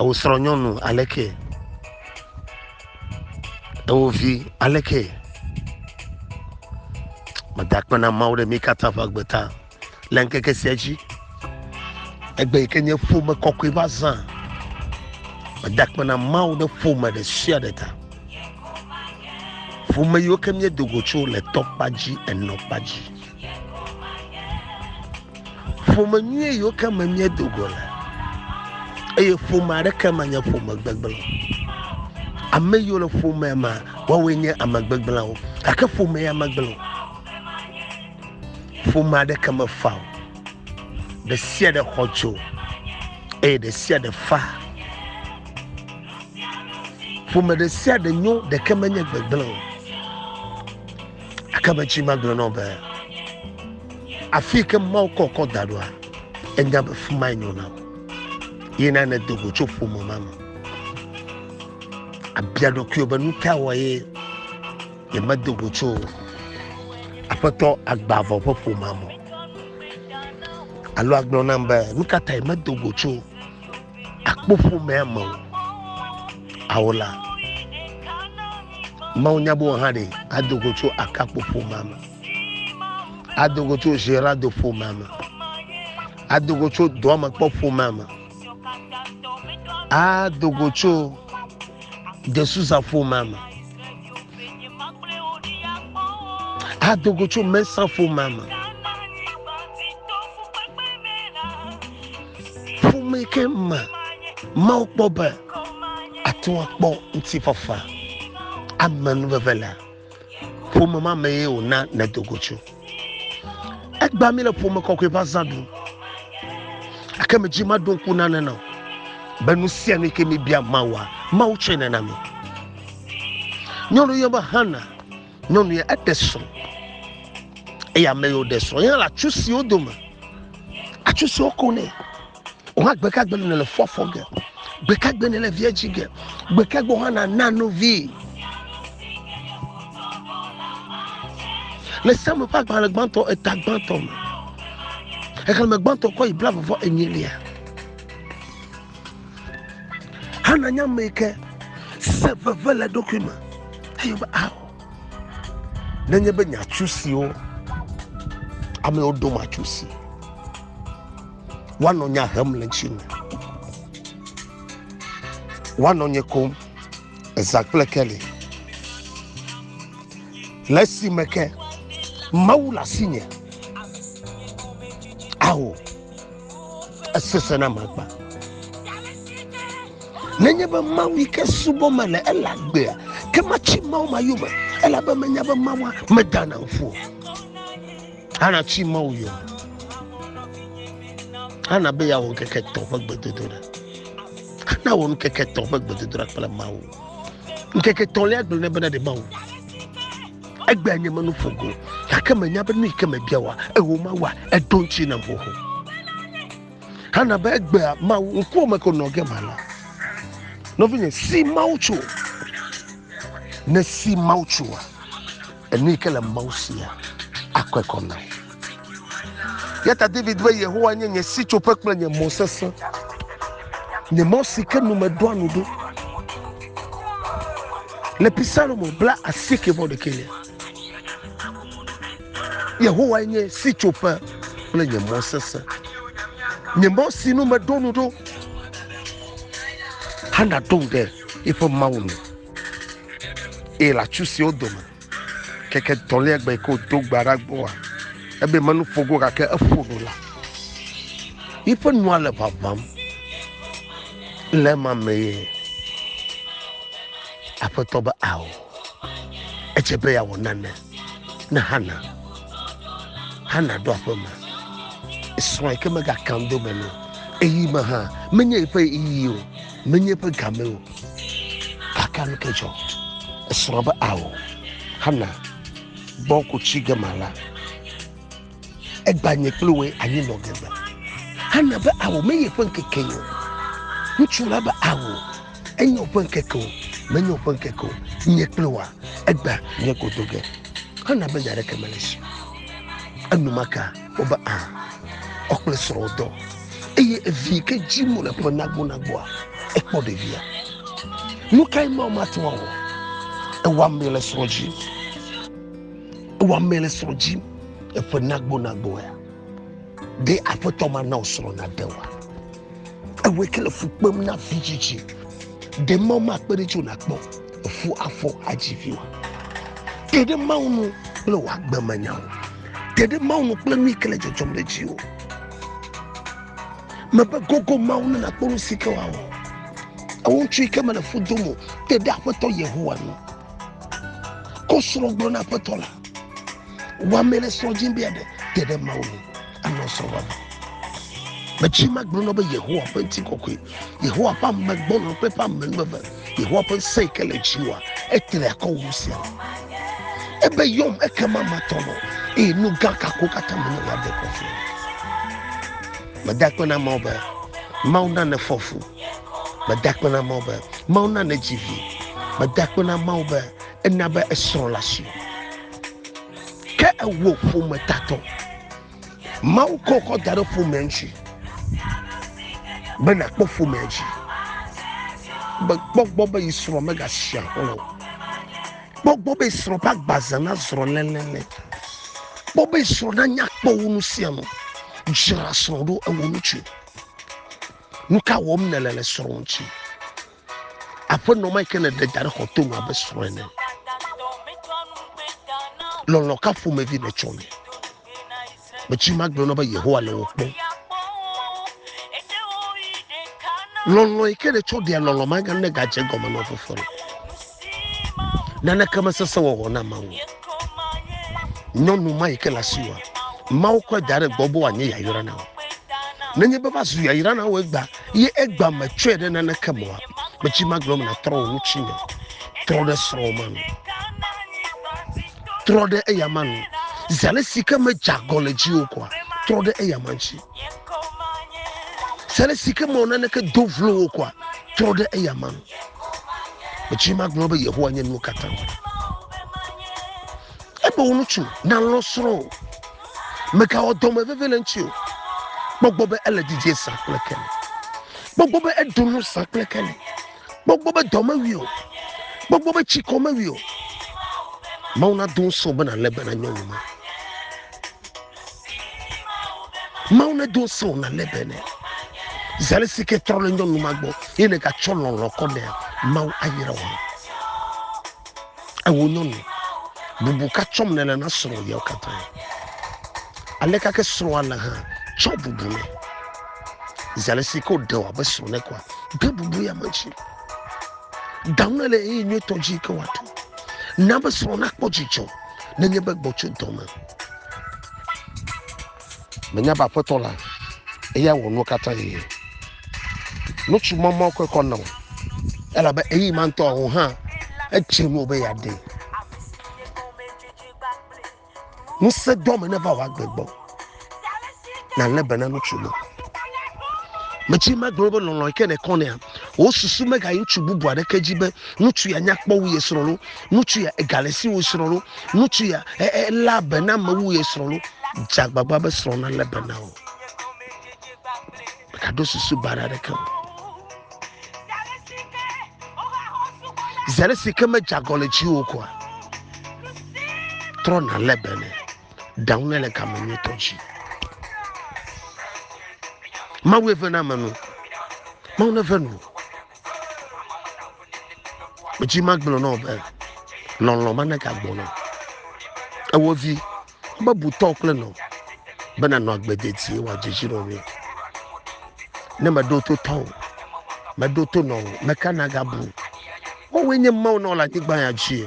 Ewò srɔ̃nyɔnu aleke? Ewò vi aleke? Meda akpe na Mawu ɖe mí katã ƒe agbe ta le ŋkeke sia dzi. Egbe yi ke nye ƒome kɔkɔe va zã. Meda akpe na Mawu ɖe ƒome ɖe sia ɖe ta. Ƒome yiwo ke míedo go tso le tɔkpa dzi, enɔkpa dzi. Ƒome nyuie yiwo ke me míedo go le eye ƒome aɖeke menye ƒome gbegblẽ. Ame yiwo le ƒomea me woawoe nye ame gbegblẽwo gake ƒome ya megblẽ o. Ƒome aɖeke mefa o. Ɖe sia ɖe xɔ tso eye ɖe sia ɖe fa. Ƒome ɖe sia ɖe nyo ɖeke menye gbegblẽ o. Aka be tsi magblɔ na wò be, Afi yi ke Mawu kɔ kɔ da ɖoa, ènya be fi mae nyo na wò. Yi na nèdo go tso ƒome ma me. Abia ɖokuiwò be, Nu ka wɔ ye nyemedo go tso Aƒetɔ Agbavɔ ƒe ƒomea me o? Alo agblɔ nam be, Nu ka tae medo go tso takpoƒomea me o ao la mawu nya be wò hã ɖe ado go tso akakpo ƒomea me ado go tso gerado ƒomea me ado go tso dɔamekpɔ ƒomea me ado go tso desuza ƒomea me Ado go tso mɛsa ƒomea me. Ƒome ke me Mawu kpɔ be ate ŋu akpɔ ŋutifafa ame nuveve le ƒome ma me ye wòna nèdo go tso. Egbea mi le ƒome kɔkɔe ƒe azã ɖum. Ake medzi maɖo ŋku nane na o. Be nu sia nu yi ke mibia Mawua, Mawu tsɔe nana mi. nyɔnu yɔ be hana nyɔnu ya eɖe srɔ̃ eye ame yiwo ɖe srɔ̃ yɛ le atsu siwo dome atsu siwo ko nɛ wòhã gbekagbe nɔ le fɔfɔ ge gbekagbe nɔ le viedzi ge gbekagbe hã na nanu vi le samu ƒe agbalẽ gbãtɔ eta gbãtɔ me xexlẽme gbãtɔ kɔ yi bla vɔvɔ enyilia Hana nye ame yi ke se veve le eɖokui me eye be ao nenye be nyatsu siwo amewo ɖom atsu si woanɔ nya hem le ŋuti me woanɔ nye kom eza kple keli le esime ke mawu le asinye ao esesẽ na magba nenye be mawu ke subɔ mele ele agbea ke matsi mawu ma yome elabe menya be mawua medana ŋfu hana tsi mawu yome hana be yeawɔ ŋkeke tɔ ƒe gbedodoɖa hana wɔ ŋkeke tɔ ƒe gbedodoɖa kple mawu ŋkeke tɔlia gblẽ ne bena ɖe mawu Egbea nye menu ƒo go, gake menya be nu yi ke mebia wòa, ewɔ Mawua, eɖo ŋuti nam xoxo. Hana be egbea Mawu ŋkuwo me ko nɔ ge ma la. Nɔvinye, si Mawu tso. Ne si Mawu tsoa, enu yi ke le Mawu sia akɔe kɔ na wò. Yata David be Yehowa nye nye sitsoƒe kple nye mɔ sesẽ, nye mɔ si ke nu medoa nu ɖo. Le Psalmo bla asieke vɔ ɖekɛ me. Yehowa nye sitsoƒe kple nye mɔ sesẽ, nye mɔ si nu meɖo nu ɖo. Hana ɖo ŋu ɖe eƒe Mawu nu, eye le atsu siwo dome Keke tɔlia gbe ko do gba ɖa gbɔa, ebe menu ƒo go gake eƒo nu la. Yiƒe nua le ʋaʋãm le ema mee. Aƒetɔ be ao. Edze be yeawɔ nane na Hana. Hana ɖo aƒe me. Esrɔ̃e ke megakando me nɛ. Eyi me hã menye yiƒe yi o. menye eƒe game o gake nu ke dzɔ esrɔ̃ be ao hana gbɔ ko tsi ge ma la egba nye kple woe anyi nɔ gebe hana be ao menye eƒe ŋkeke o ŋutsu la be ao enye woƒe ŋkeke o menye woƒe ŋkeke o nye kple woa egba nye kodo ge hana be nya aɖeke mele si enumaka Wobe a ɔ kple srɔ̃ dɔ eye evi ke dzi mo le ƒe nagbo nagboa ekpɔ ɖevia. Nu kae ma mate ŋu awɔ? Ewɔ ame le srɔ̃ dzi. Ewɔ ame le srɔ̃ dzi eƒe nagbo nagboa. Ɖe aƒetɔ ma na wo srɔ̃ na ɖe wa. Ewɔe ke le fu kpem na vitsitsi. Ɖe Mawu makpe ɖe tso nakpɔ efu afɔ adzi vi wa? Te ɖe Mawu nu kple wò agbemenyawo. Te ɖe Mawu nu kple nu yi ke le dzɔdzɔm ɖe dziwò. Mebe gogo Mawu ne nakpɔ nu si ke wòawɔ. Ewo ŋutsu yi ke mele fu dom o, te ɖe Aƒetɔ Yehowa nu. Ko srɔ̃ gblɔ na Aƒetɔ la. Wɔame le srɔ̃ dim be aɖe te ɖe Mawu nu. anɔ srɔ̃ wɔna. Metsi ma gblɔ na be Yehowa ƒe ŋuti kɔkɔe, Yehowa ƒe ame gbɔna kple ƒe ame nu eve, Yehowa ƒe ŋusẽ yi ke le dziwòa, etre akɔ wu sia. Ebe yɔm ekema matɔ nɔ, eye nu gã kako katã menye la de kɔ fia. Meda akpe na Mawu be Mawu na nefɔ fu. Meda akpe na Mawu be Mawu na nedzi vi. Meda akpe na Mawu be ena be esrɔ̃ la si. ke ewɔ ƒometatɔ mawu kɔ kɔ da ɖe ƒomea ŋuti be nakpɔ ƒomea dzi be kpɔgbɔ be yi srɔ̃ megasi aƒe o kpɔgbɔ be srɔ̃ ƒe agbaze nazrɔ lɛlɛlɛ kpɔ be srɔ̃ nanya kpɔ wo nu sia nu dzra srɔ̃ ɖo ewɔ ŋutsu nu ka wɔm nele le srɔ̃ ŋuti Aƒenɔ ma yi ke nèɖe da ɖe xɔ to nu abe srɔ̃ ene. Lɔlɔ ka ƒomevi nètsɔ nɛ? Metsi magblɔ na be Yehowa le wò kpɔm. Lɔlɔ yi ke nètsɔ ɖea lɔlɔ magane gadze gɔme na fofoa le. Naneke mesesẽ wɔwɔ na Mawu. Nyɔnu ma yi ke le asiwòa, Mawu kɔe da ɖe gbɔ be wòanye yayra na wò. Nenye be va zu yayra na wò egbea, Ye egbea metsɔe ɖe naneke me oa? Metsi magblɔ me natrɔ wò ŋutinye. Trɔ ɖe srɔ̃wò ma nu. Trɔ ɖe eya ma nu. Zi ale si ke medze agɔ le dziwò koa, trɔ ɖe eya ma ŋuti. Zi ale si ke mewɔ naneke do vlo wò koa, trɔ ɖe eya ma nu. Metsi magblɔ be Yehowa nye nuwo katã. Ebe wò ŋutsu nalɔ̃ srɔ̃ o. Megawɔ dɔme veve le eŋuti o. Kpɔ gbɔ be ele didie zã kple keli. Kpɔ gbɔ be eɖu nu zã kple keli. Kpɔ gbɔ be dɔ mewui o. Kpɔ gbɔ be tsikɔ mewui o. Mawu nado ŋusẽ wò be nàlé be na nyɔnu ma. Mawu nedo ŋusẽ wò nàlé be nɛ. Zãle si ke trɔ le nyɔnu ma gbɔ eye nègatsɔ lɔlɔ̃ kɔ nɛa, Mawu ayra wò. Ewo nyɔnu, bubu ka tsɔm nèle na srɔ̃ yawo katã? Aleka ke srɔ̃a le hã? Tsɔ bubu nɛ. Zi ale si ke wòɖe wòabe srɔ̃ nɛ koa, de bubu ya me dzi. Da nu ɖe le ɣeyiɣi nyuitɔ dzi ke wòaɖu. Na be srɔ̃ nakpɔ dzidzɔ nenye be gbɔ tso dɔ me. Menya be Aƒetɔ la, eya wɔ nuwo katã yi. Nutsu mɔmɔ kɔe kɔ nɔ, elabe eyi ma ŋutɔ o hã edze nuwo be yeaɖee. Ŋusẽ dɔ me neva wò agbe gbɔ. Nàlé be na nutsu ma. Medzi magblɔ be lɔlɔ̃ yi ke nèkɔ nɛa, wò susu megayi ŋutsu bubu aɖeke dzi be ŋutsu ya nya kpɔ wu ye srɔ̃ loo Ŋutsu ya ega le si wu srɔ̃ lo. Ŋutsu ya elé be na me wu ye srɔ̃ lo. Dze agbagba be srɔ̃ nalé be na wò. Mègaɖo susu baɖa aɖeke o. Zi aɖe si ke medze agɔ le dziwò koa, trɔ nalé be nɛ. Ɖaŋu nɛ le game nyuitɔ dzi. Mawu eve na me nu. Mawu neve nu. Medzi magblɔ na wò be lɔlɔ̃ manegagbɔ na ewɔ vi mebu tɔ kple nɔ be nanɔ agbe dedie wòadze dzi nɔ mi. Ne meɖo to tɔ o, meɖo to nɔ o, meka nagabu. Wowoe nye Mawu nɔ le anyigba ya dzi.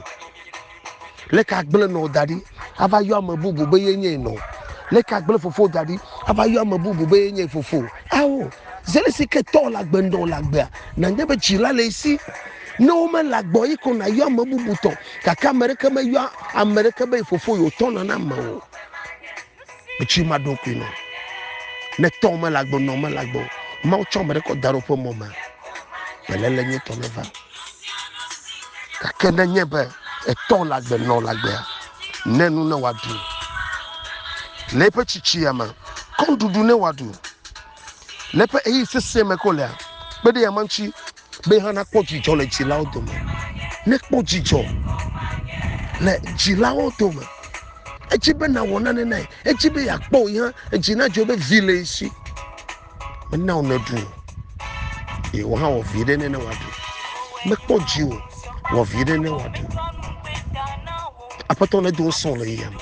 Leke agblẽ nɔwò da ɖi ava yɔ ame bubu be ye nyee nɔ? Leke agblẽ fofowò da ɖi ava yɔ ame bubu be ye nyee fofo? Ao, zi ale si ke tɔwò le agbe ŋdɔ wò le agbea, nànya be dzila le esi. Ne womele agbeɔ, yi ko nàyɔ ame bubu tɔ. Gake ame ɖeke meyɔa ame ɖeke be ye fofo yewòtɔ nana ame o. Etsi ma ɖo kui nɔ. Ne tɔn mele agbe, nɔn mele agbe o. Mawu tsɔ ame ɖe kɔ da ɖe woƒe mɔ me. Beléle nye tɔ ne va. Gake ne nye be etɔn le agbe, nɔn le agbea, ne nu ne wòaɖu. Le eƒe tsitsia me, kɔn ɖuɖu ne wòaɖu. Le eƒe eyi sesẽ me ko lea, kpe ɖe ya ma ŋuti. be hã nakpɔ dzidzɔ le dzilawo dome nekpɔ dzidzɔ le dzilawo dome edzi be nawɔ nane nae edzi be yeakpɔ yi hã edzi na dzo be vi le esi mena wo neɖu o ye wo hã wɔ vi ɖe ne ne wòaɖu mekpɔ dzi o wɔ vi ɖe ne wòaɖu aƒetɔ ne do sɔn le yame.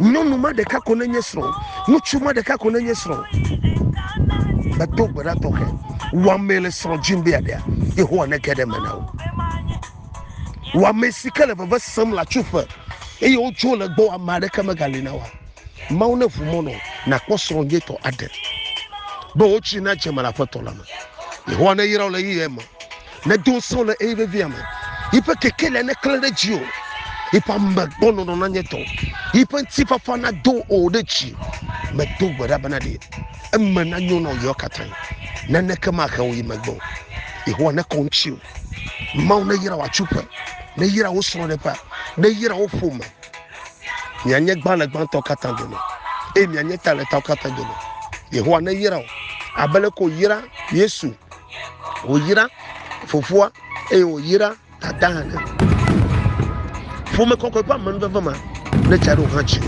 Nyɔnu ma ɖeka ko nenye srɔ̃. Ŋutsu ma ɖeka ko nenye srɔ̃. Medo gbe ɖa tɔxɛ wɔamee le srɔ̃ dzim be yeaɖea. Yehowa nege ɖe eme na wò. Wɔame si ke le veve sem le atsuƒe eye wodzo le gbɔwò, ame aɖeke megali na wòa? Mawu neʋu mɔ nɔ wò nàkpɔ srɔ̃ nyuitɔ aɖe be wò dzi nadze eme le Aƒetɔ la me. Yehowa neyra wò le ɣeyiɣi me. Nedo ŋusẽ le eye vevia me. Yiƒe keke le neklẽ ɖe dzi o. Yiƒe ame gbɔ nɔnɔ na nye tɔ. Yiƒe ŋutifafa nado o ɖe dzi. Medo gbe ɖa bena ɖe eme nanyo na wò ɣeawo katã. Naneke mahe wò yi megbe o. Yehowa nekɔ ŋutsiwò. Mawu neyra wò atsuƒe. Neyra wò srɔ̃ɖeƒea. Neyra wò ƒome. Mianye gbã le gbãtɔwo katã dome eye mianye ta le tawo katã dome. Yehowa neyra wò abe leke wòyra Yesu wòyra fofoa eye wòyra dada hã. Ƒome kɔkɔe ƒe amenuveve ma netsa ɖe wò hã dzi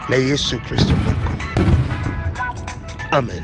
le Yesu Kristo ƒe ŋkɔ me. Amen.